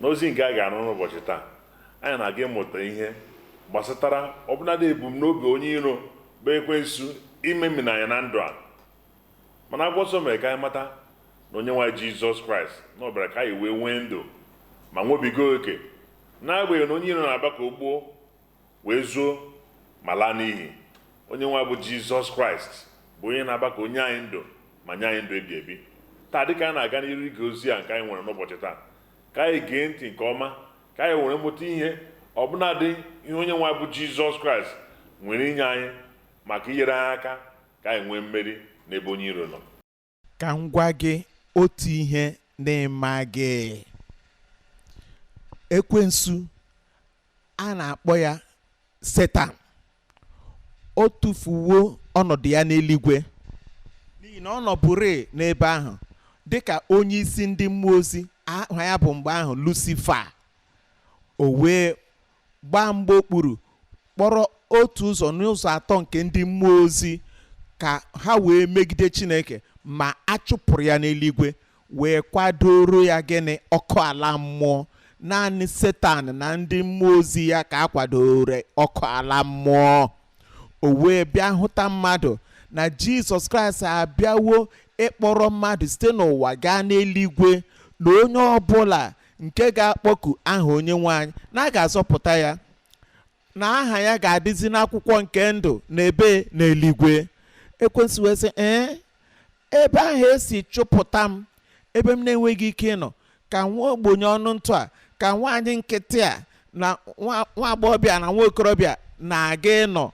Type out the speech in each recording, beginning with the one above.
n'ozi nke a ga-anụ n'ụbọchị taa anyị na-aga ịmụta ihe gbasatara ọbụnadị ebumnobi onye iro bụ ekwensu imemina anyị na ndụ a mana akwụkwọ nsọ mere ka anyị mata na onyenwe anyị jizọs kraịst na ọ bịara ka anyị wee nwee ndụ ma nwebiga oke n'agbanyeghị na onye iro na-abịa ka o gbuo wee zuo ma laa n'iyi. Onyenwe anyị bụ Jizọs Kraịst bụ onye na-abịa ka o nye anyị ndụ ma nye anyị ndụ ebi ebi. Taa dịka anyị na-aga n'iru ige ozi a nke anyị nwere n'ụbọchị taa, ka anyị gee ntị nke ọma ka anyị were mụta ihe ọbụnadị ihe Onyenwe anyị bụ Jizọs Kraịst nwere inye anyị maka inyere anyị aka ka anyị nwee mmeri n'ebe onye iro nọ. ka m gwa gị otu ihe na ị maghị ekwensu a na-akpọ ya setan o tufuwo ọnọdụ ya n'eluigwe n'ihi na ọ nọbụrị n'ebe ahụ dịka onye isi ndị mmụọ ozi aha ya bụ mgbe ahụ lusifa o wee gbaa mgba okpuru kpọrọ otu ụzọ n'ụzọ atọ nke ndị mmụọ ozi ka ha wee megide chineke ma a chụpụrụ ya n'eluigwe wee kwadooro ya gịnị ọkụ ala mmụọ naanị setan na ndị mmụọ ozi ya ka a kwadooro ọkụ ala mmụọ o wee bịa hụta mmadụ na jizọs kraịst abịawo ịkpọrọ mmadụ site n'ụwa gaa n'eluigwe na onye ọbụla nke ga-akpọku aha onyenwe anyị na a ga-azọpụta ya na aha ya ga-adịzi n'akwụkwọ nke ndụ n'ebe n'eluigwe ekwensu wee sị ee ebe ahụ e si chụpụta m ebe m na-enweghị ike ịnọ ka nwa ogbenye ọnụ ntụ a ka nwaanyị nkịtị a na nwa nwa agbọghọbịa na nwa okorobịa na-aga ịnọ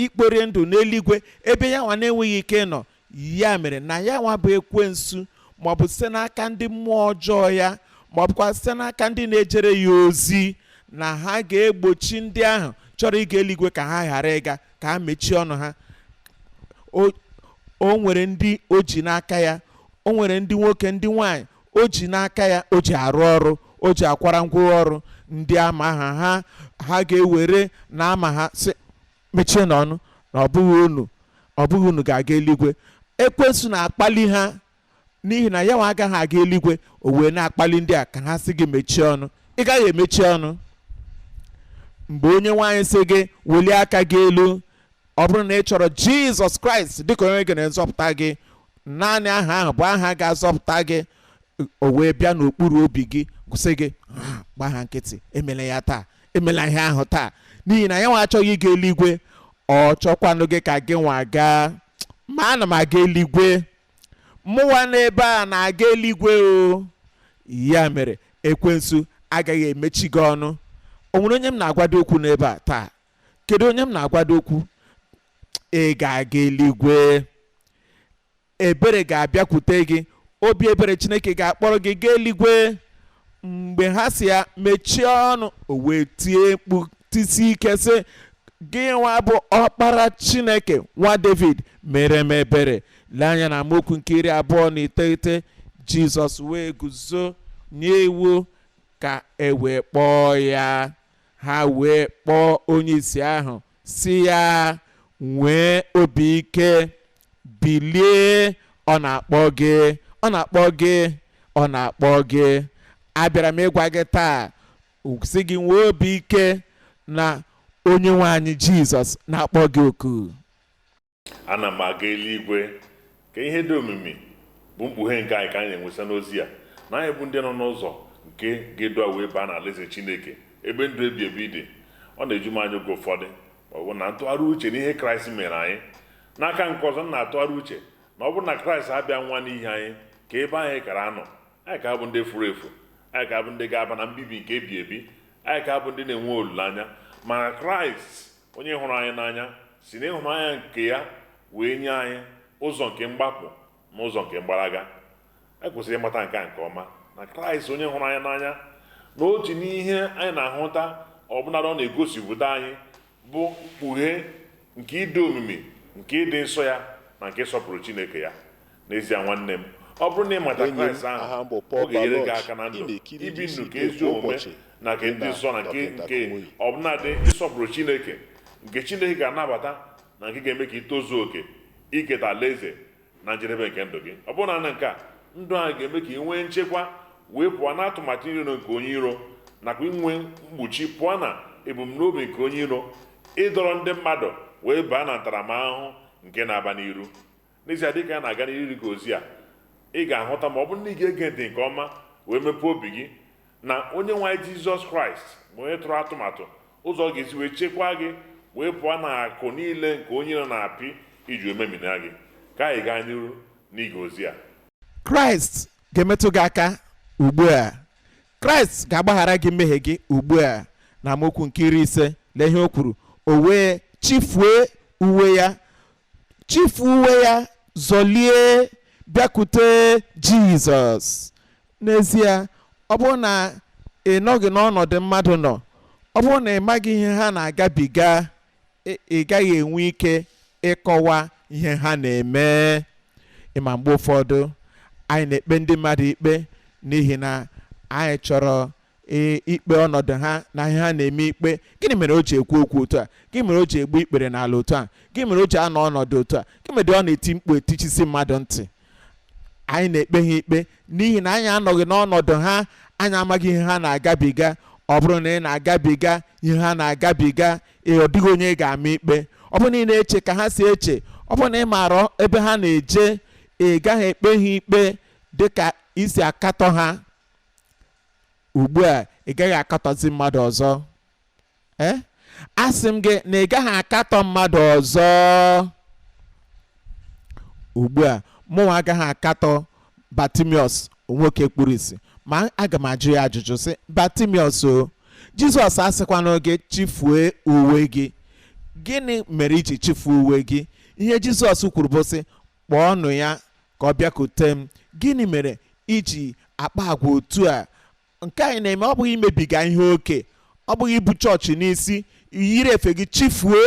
ikpori ndụ n'eluigwe ebe ya nwa na-enweghị ike ịnọ ya mere na ya nwa bụ ekwensu maọbụ site n'aka ndị mmụọ ọjọọ ya maọbụkwa site n'aka ndị na-ejere ya ozi na ha ga-egbochi ndị ahụ chọrọ ịga eluigwe ka ha ghara ịga ka ha mechie ọnụ ha o o nwere ndị o ji n'aka ya o nwere ndị nwoke ndị nwanyị o ji n'aka ya o ji arụ ọrụ o ji akwara ngwa ọrụ ndị ama ha ha ha ga-ewere na-ama ha sị mechienụ ọnụ na ọ bụghị unu ọ bụghị unu ga-aga eluigwe ekwensu na-akpali ha n'ihi na ya nwa agaghị aga eluigwe o wee na-akpali ndị a ka ha sị gị mechie ọnụ ị gaghị emechi ọnụ mgbe onyenwe anyị sị gị welie aka gị elu ọ bụrụ na ị chọrọ jizọs kraịst dịka onye gị na-azọpụta gị naanị aha ahụ bụ aha ga-azọpụta gị o wee bịa n'okpuru obi gị sị gị ah gba ha nkịtị emela ya taa emela ihe ahụ taa n'ihi na ya nwa achọghị ịga eluigwe ọ chọkwanụghị ka gị nwa gaa ma ana m aga eluigwe mụwa n'ebe a na-aga eluigwe o ya mere ekwensu agaghị emechi gị ọnụ o nwere onye m na-agwado okwu n'ebe a taa kedu onye m na-agwado okwu ị ga-aga eluigwe ebere ga-abịakwute gị obi ebere chineke ga-akpọrọ gị gaa eluigwe mgbe ha sị ya mechie ọnụ o wee tie mkpu tisi ike sị gị nwa bụ ọkpara chineke nwa david meere m ebere lee anya na amaokwu nke iri abụọ na iteghete jizọs wee guzo nye iwu ka e wee kpọọ ya ha wee kpọọ onye isi ahụ sị ya nwee obi ike bilie ọ na-akpọ gị ọ na-akpọ gị ọ na-akpọ gị abịara m ịgwa gị taa sị gị nwee obi ike na onye nwe anyị jizọs na-akpọ gị oku ana m aga eluigwe ka ihe dị omimi bụ mkpughe nke anyị ka anyị na-enwesa n'ozi ya na anyị bụ ndị nọ n'ụzọ nke ga-edu wee baa na alaeze chineke ebe ndụ ebi ebi dị ọ na-eju m anya oge ụfọdụ ma ọ bụ na m tụgharịa uche n'ihe kraịst mere anyị n'aka nke ọzọ m na-atụgharị uche na ọ bụrụ na kraịst abịa nwa n'ihi anyị kee ebe anyị kara anọ anyị ka abụ ndị furu efu anyị ka abụ ndị ga-aba na mbibi nke ebi ebi anyị ka abụ ndị na-enwe olileanya mana kraịst onye hụrụ anyị n'anya si n'ịhụnanya nke ya wee nye anyị ụzọ nke mgbapụ na ụzọ nke mgbalaga anyị kwesịrị ịmata nke a nke ọma na kraịst onye hụrụ anyị n'anya na otu n'ihe anyị na-ahụta ọbụnadị ọ na-egosipụta anyị bụ mkpughe nke ịdị omimi nke ịdị nsọ ya na nke ịsọpụrụ Chineke ya n'ezie nwanne m ọ bụrụ na ị mata Kraịst ahụ ọ ga-enyere gị aka na ndụ ibi ndụ nke ezi omume na nke ịdị nsọ na nke ọbụnadị ịsọpụrụ Chineke nke Chineke ga-anabata na nke ga-eme ka ị tozuo oke iketa alaeze na njedebe nke ndụ gị ọ bụrụ naanị nke a ndụ anyị ga-eme ka ị nwee nchekwa wee pụọ na atụmatụ iro nke onye iro nakwa inwe mkpuchi pụọ na ebumnobi nke onye iro ịdọrọ ndị mmadụ wee baa na ntaramahụhụ nke na-abịa n'iru n'ezie dịka a na-aga n'iru ige ozi a ị ga-ahụta ma ọ bụrụ na ị ga-ege ntị nke ọma wee mepee obi gị na onye nwe anyị jizọs kraịst bụ onye tụrụ atụmatụ ụzọ ọ ga-esi wee chekwaa gị wee pụọ na akụ niile nke onye iro na-apị iji wee memina gị ka anyị gaa n'iru n'ige ozi a kraịst ga-emetụ gị aka ugbu a kraịst ga-agbaghara gị mmehie gị ugbu a na amaokwu nke iri ise lee ihe o kwuru o wee chịfue uwe ya chifu uwe ya zọlie bịakwute jizọs n'ezie ọ bụrụ na ị nọghị n'ọnọdụ mmadụ nọ ọ bụrụ na ị maghị ihe ha na-agabiga ị- ị gaghị enwe ike ịkọwa ihe ha na-eme ị ma mgbe ụfọdụ anyị na-ekpe ndị mmadụ ikpe n'ihi na anyị chọrọ ee ikpe ọnọdụ ha na ihe ha na-eme ikpe gịnị mere o ji ekwu okwu otu a gịnị mere o ji egbu ikpere n'ala otu a gịnị mere o ji anọ ọnọdụ otu a gịnị mere ọ na-eti mkpu etichisi mmadụ ntị anyị na-ekpe ha ikpe n'ihi na anyị anọghị n'ọnọdụ ha anyị amaghị ihe ha na-agabiga ọ bụrụ na ị na-agabiga ihe ha na-agabiga ee ọ dịghị onye ị ga-ama ikpe ọ bụrụ na ị na-eche ka ha si eche ọ bụrụ na ị maara ebe ha na-eje ị gaghị ekpe ha ikpe dịka i si akatọ ha ugbu a ị gaghị akatọzi mmadụ ọzọ ee asị m gị na ị gaghị akatọ mmadụ ọzọ ugbu a mụnwa agaghị akatọ batimiọs nwoke kpuru isi ma aga m ajụ ya ajụjụ sị batimiọs o jizọs asịkwana gị chifue uwe gị gịnị mere i ji chifuo uwe gị ihe jizọs kwuru bụ sị kpọọnụ ya ka ọ bịakute m gịnị mere i ji akpa agwa otu a nke anyị na-eme ọ bụghị imebiga ihe oke ọ bụghị ibu chọọchị n'isi yiri efe gị chifuo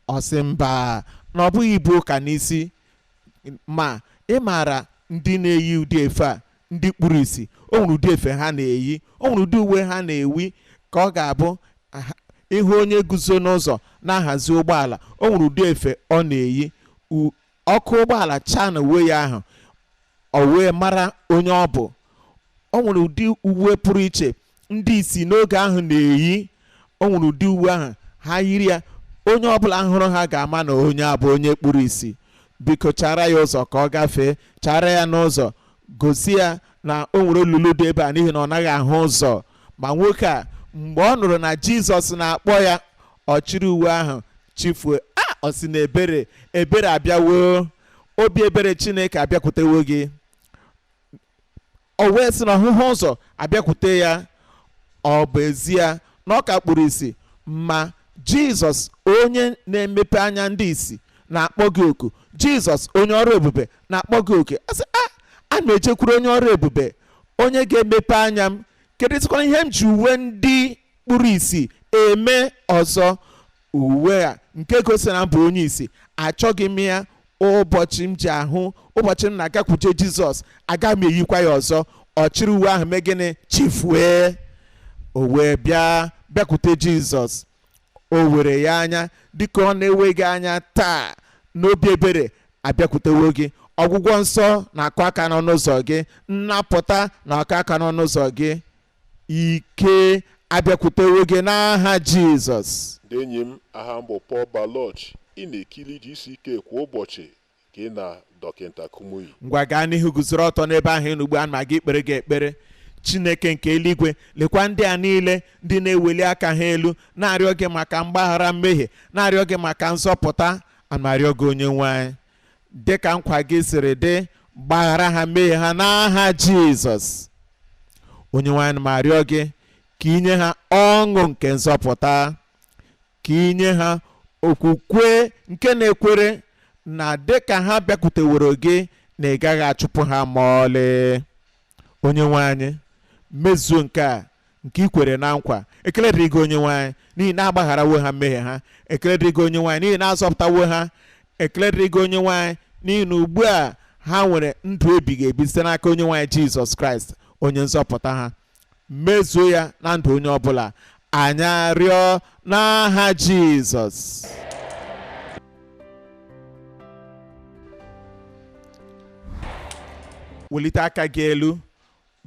ọ sị mba na ọ bụghị ibu ụka n'isi ma ị maara ndị na-eyi ụdị efe a ndị kpuru isi o nwere ụdị efe ha na-eyi o nwere ụdị uwe ha na-eyi ka ọ ga-abụ aha- ịhụ onye guzo n'ụzọ na-ahazi ụgbọala o nwere ụdị efe ọ na-eyi U- ọkụ ụgbọala chaa n'uwe ya ahụ o wee mara onye ọ bụ o nwere ụdị uwe pụrụ iche ndị isi n'oge ahụ na-eyi o nwere ụdị uwe ahụ ha yiri ya onye ọbụla hụrụ ha ga-ama na onye a bụ onye kpuru isi biko chara ya ụzọ ka ọ gafee chara ya n'ụzọ gosi ya na o nwere olulu dị ebe a n'ihi na ọ naghị ahụ ụzọ ma nwoke a mgbe ọ nụrụ na jizọs na-akpọ ya ọ chịrị uwe ahụ chifue a ọ sị na ebere ebere abịawo obi ebere chineke abịakwutewo gị o wee sị na ọhụhụ ụzọ abịakwute ya ọ bụ ezie na ọ ka kpuru isi ma jizọs onye na-emepe anya ndị isi na-akpọ gị oku jizọs onye ọrụ ebube na-akpọ gị oku a sị a a na-ejekwuru onye ọrụ ebube onye ga-emepe anya m kedụzikwana ihe m ji uwe ndị kpuru isi eme ọzọ uwe a nke gosiri na m bụ onye isi achọghị m ya ụbọchị m ji ahụ ụbọchị m na-agakwuje jizọs aga m eyikwa ya ọzọ ọ chịrị uwe ahụ mee gịnị chifue o wee bịa bịakwute jizọs o were ya anya dịka ọ na-ewe gị anya taa n'obi ebere abịakwutewo gị ọgwụgwọ nsọ na-akụ aka n'ọnụ ụzọ gị nnapụta na-akụ aka n'ọnụ ụzọ gị ike abịakwutewo gị n'aha Jizọs. Ndị enyi m, aha m bụ Paul Baloche. Ị na-ekiri GCK kwa ụbọchị gị na Dọkịta Kumuyi. Ngwa gaa n'ihu guzoro ọtọ n'ebe ahụ ị nọ ugbu a m ga-ekpere gị ekpere. Chineke nke eluigwe lekwa ndị a niile ndị na-eweli aka ha elu na-arịọ gị maka mgbaghara mmehie na-arịọ gị maka nzọpụta a na-arịọ gị onye nwe anyị dị ka nkwa gị siri dị gbaghara ha mmehie ha n'aha jizọs onye nwe anyị ana m arịọ gị ka i nye ha ọṅụ nke nzọpụta ka i nye ha okwukwe nke na-ekwere na dịka ha bịakwuteworo gị na ị gaghị achụpụ ha ma ọlị onye nwe anyị mezuo nke a nke i kwere na nkwa ekele dịrị gị onye nwe anyị n'ihi na agbagharawo ha mmehie ha ekele dịrị gị onye nwe anyị n'ihi na azọpụtawo ha ekele dịrị gị onye nwe anyị n'ihi na ugbu a ha nwere ndụ ebighị ebi site n'aka onye nwe anyị jizọs kraịst onye nzọpụta ha mezuo ya na ndụ onye ọbụla anyị arịọ n'aha Jizọs welite aka gị elu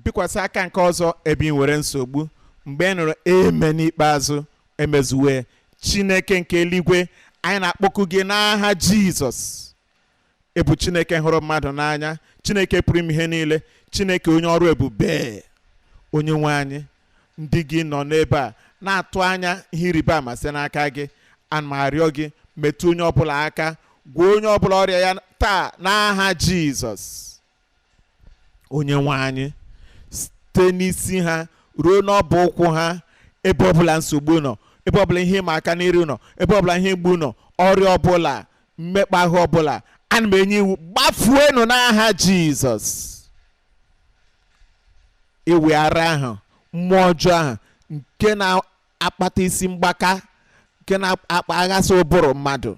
bikwasị aka nke ọzọ ebe ị nwere nsogbu mgbe ị nụrụ amen ikpeazụ emezuwe Chineke nke eluigwe anyị na-akpọku gị n'aha Jizọs ị bụ chineke hụrụ mmadụ n'anya chineke pụrụ ime ihe niile chineke onye ọrụ ebube onye nwe anyị ndị gị nọ n'ebe a na-atụ anya ihe ịrịba ama site n'aka gị ana m arịọ gị metụ onye ọbụla aka gwọọ onye ọbụla ọrịa ya taa n'aha jizọs onye nwe anyị site n'isi ha ruo n'ọbụ ụkwụ ha ebe ọbụla nsogbu nọ ebe ọbụla ihe ịma aka n'iru nọ ebe ọbụla ihe mgbu nọ ọrịa ọbụla mmekpa ahụ ọbụla ana m enye iwu gbafuenụ n'aha jizọs ịwị ara ahụ mmụọ ọjọọ ahụ nke na-akpata isi mgbaka nke na-akpaghasị ụbụrụ mmadụ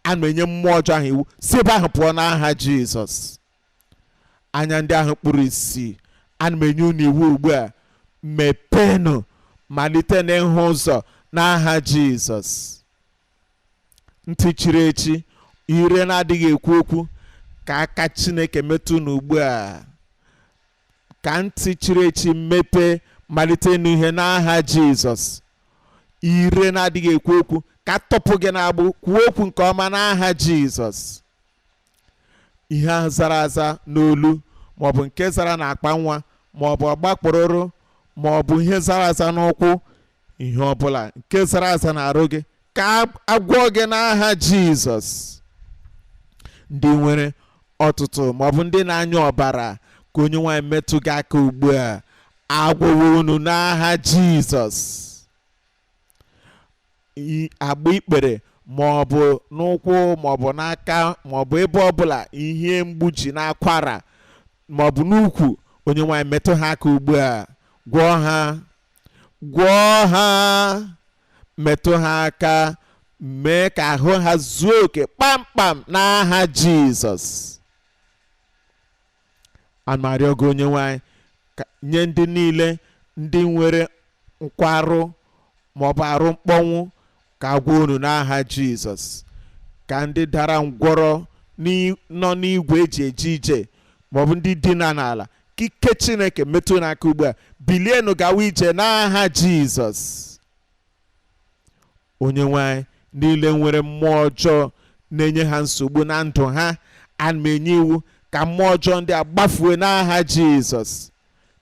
ana m enye mmụọ ọjọọ ahụ iwu si ebe ahụ pụọ n'aha jizọs anya ndị ahụ kpụrụ isi ana m enye unu iwu ugbu a mepeenụ malite n'ịhụ ụzọ n'aha jizọs ntị chiri echi ire na-adịghị ekwu okwu ka aka chineke metụ unu ugbu a ka ntị chiri echi mepee malite ịnụ ihe n'aha jizọs ire na-adịghị ekwu okwu ka atọpụ gị n'agbụ kwuo okwu nke ọma n'aha jizọs ihe ahụ zara aza n'olu maọbụ nke zara n'akpa nwa maọbụ ọgbakpụrụrụ maọbụ ihe zara aza n'ụkwụ ihe ọbụla nke zara aza n'arụ gị ka agwọ gị n'aha jizọs ndị nwere ọtụtụ maọbụ ndị na-anyụ ọbara ka onye nwe anyị metụ gị aka ugbu a agwọwo unu n'aha jizọs i- agba ikpere ma ọ bụ n'ụkwụ ma ọ bụ n'aka ma ọ bụ ebe ọbụla ihe mgbu ji n'akwara ma ọ bụ n'ukwu onye nwe anyị metụ ha aka ugbu a gwọọ ha gwọọ ha metụ ha aka mee ka ahụ ha zuo oke kpamkpam n'aha jizọs ana m arịọ gị onye nwe anyị nye ndị niile ndị nwere nkwarụ ma ọ bụ arụ mkpọnwụ ka agwọ unu n'aha jizọs ka ndị dara ngwọrọ n'i- nọ n'igwe eji eje ije maọbụ ndị dina n'ala ka ike chineke metụ unu aka ugbu a bilienụ gawa ije n'aha jizọs onyenwe anyị niile nwere mmụọ ọjọọ na-enye ha nsogbu na ndụ ha ana m enye iwu ka mmụọ ọjọọ ndị a gbafue n'aha jizọs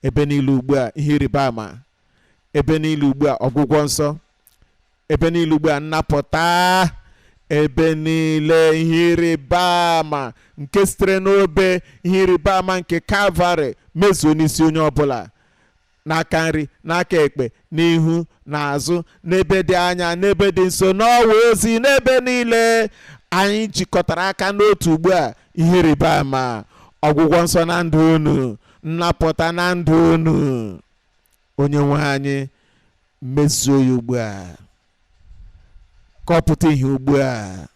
ebe niile ugbu a ihe ịrịba ama ebe niile ugbu a ọgwụgwọ nsọ ebe niile ugbu a nnapụta ebe niile ihe ịrịba ama nke sitere n'obe ihe ịrịba ama nke kalvarị mezuo n'isi onye ọbụla n'aka nri n'aka ekpe n'ihu n'azụ n'ebe dị anya n'ebe dị nso n'ọwa ozi n'ebe niile anyị jikọtara aka n'otu ugbu a ihe ịrịba ama ọgwụgwọ nsọ na ndụ unu nnapụta na ndụ unu onye nwe anyị mezuo ya ugbu a ka ọ pụta ihe ugbu a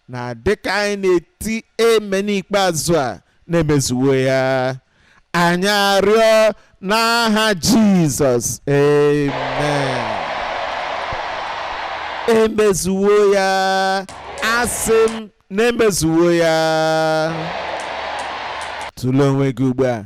na dịka anyị na-eti amen ikpeazụ a na emezuwo ya anyị arịọ n'aha jizọs amen emezuwo ya asị m na emezuwo ya tụlee onwe gị ugbu a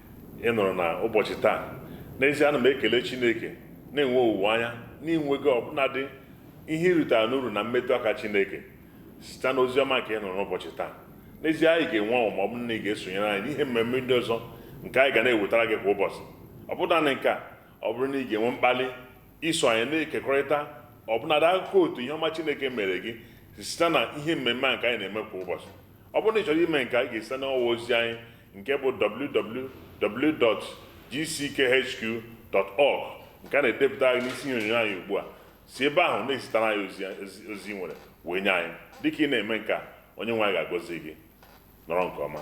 ị nụrụ na ụbọchị taa n'ezie ana m ekele chineke na-enwe owuwe anya na i nwego ọbụnadị ihe i rutara n'uru na mmetụ aka chineke site n'ozi ọma nke ị nụrụ n'ụbọchị taa n'ezie anyị ga-enwe ọṅụ ma ọ bụrụ na ị ga-esonyere anyị n'ihe mmemme ndị ọzọ nke anyị ga na-ewetara gị kwa ụbọchị ọ bụghị naanị nke a ọ bụrụ na ị ga-enwe mkpali iso anyị na-ekekọrịta ọbụnadị akụkọ otu ihe ọma chineke mere gị site na ihe mmemme a nke anyị na-eme kwa ụbọchị Ọ bụrụ na ị chọrọ ime nke a, ị ga-esite n'ọwa ozi anyị nke bụ www.gckhq.org nke a na-edepụta anyị n'isi ihe onyonyo anyị ugbu a si ebe ahụ na-ezitara anyị ozi i nwere wee nye anyị dịka ị na-eme nke a onye nwe anyị ga-agọzi gị nọrọ nke ọma